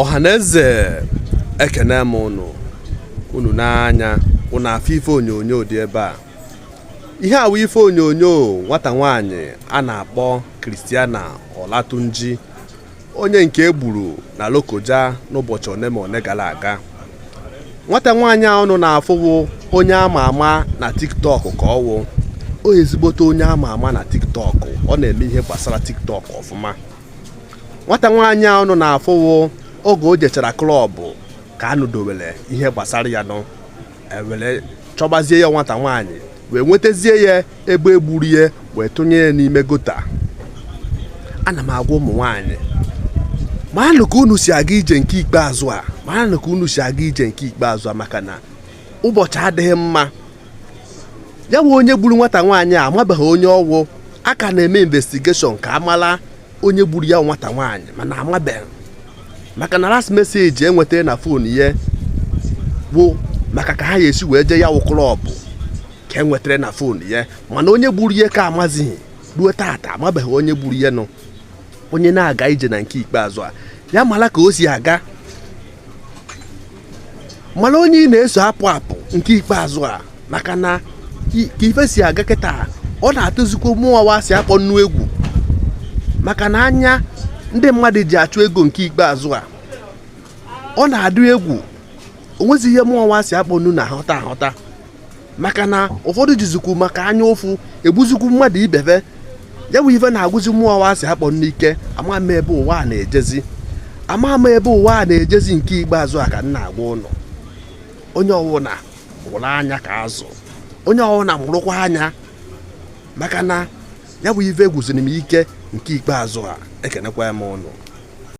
ọhaneze ekene m ụnụ unu n'anya ụnụ na-afụ ife onyonyo dị ebe a ihe a wụ ife onyonyo nwata nwaanyị a na-akpọ Christiana Olatunji onye nke e gburu na Lokoja n'ụbọchị one ma one gara aga nwata nwaanyị a ụnụ na-afụ wụ onye ama ama na tiktok ka ọ wụ ọ ezigbote onye ama ama na tiktok ọ na-eme ihe gbasara tiktok ọfụma nwata nwaanyị a ụnụ na-afụ wụ oge o jechara club ka a nụdowere ihe gbasara ya nọ e were chọbazie ya nwata nwaanyị wee nwetazie ya ebe e gburu ya wee tụnye ya n'ime gutter ana m agwa ụmụ nwaanyị maanụ ka unu si aga ije nke ikpeazụ a maanụ ka unu si aga ije nke ikpeazụ a maka na ụbọchị adịghị mma ya wụ onye gburu nwata nwaanyị a amabeghị onye ọ wụ a ka na-eme investigation ka a mala onye gburu ya nwata nwaanyị mana amabeghị maka na last message e nweta na phone ya bụ maka ka ha ya-esi wee jee ya wụ club ka e nwetara na phone ya mana onye gburu ya ka amazighị ruo taata amabeghị onye gburu ya nọ onye na-aga ije na nke ikpeazụ a ya mara ka o si aga mara onye ị na-eso apụ apụ nke ikpeazụ a maka na ka ife si aga kịta ọ na-atụzikwa mụwa wụ asị akpọ nnu egwu maka na anya ndị mmadụ ji achụ ego nke ikpeazụ a ọ na-adị egwu o nwezi ihe mụwa wụ asị akpọ nnu na-aghọta aghọta maka na ụfọdụ jizikwu maka anya ụfụ egbuzikwu mmadụ ibe ve ya wụ ife na-agwụzi mụwa wụ asị akpọ nnu ike ama m ebe ụwa a na-ejezi ama m ebe ụwa a na-ejezi nke ikpeazụ a ka m na-agwa ụnụ onye ọwụna mụrụ anya ka azụ onye ọwụna mụrụkwa anya maka na ya wụ ife gwụziri m ike nke ikpeazụ a ekenekwa m ụnụ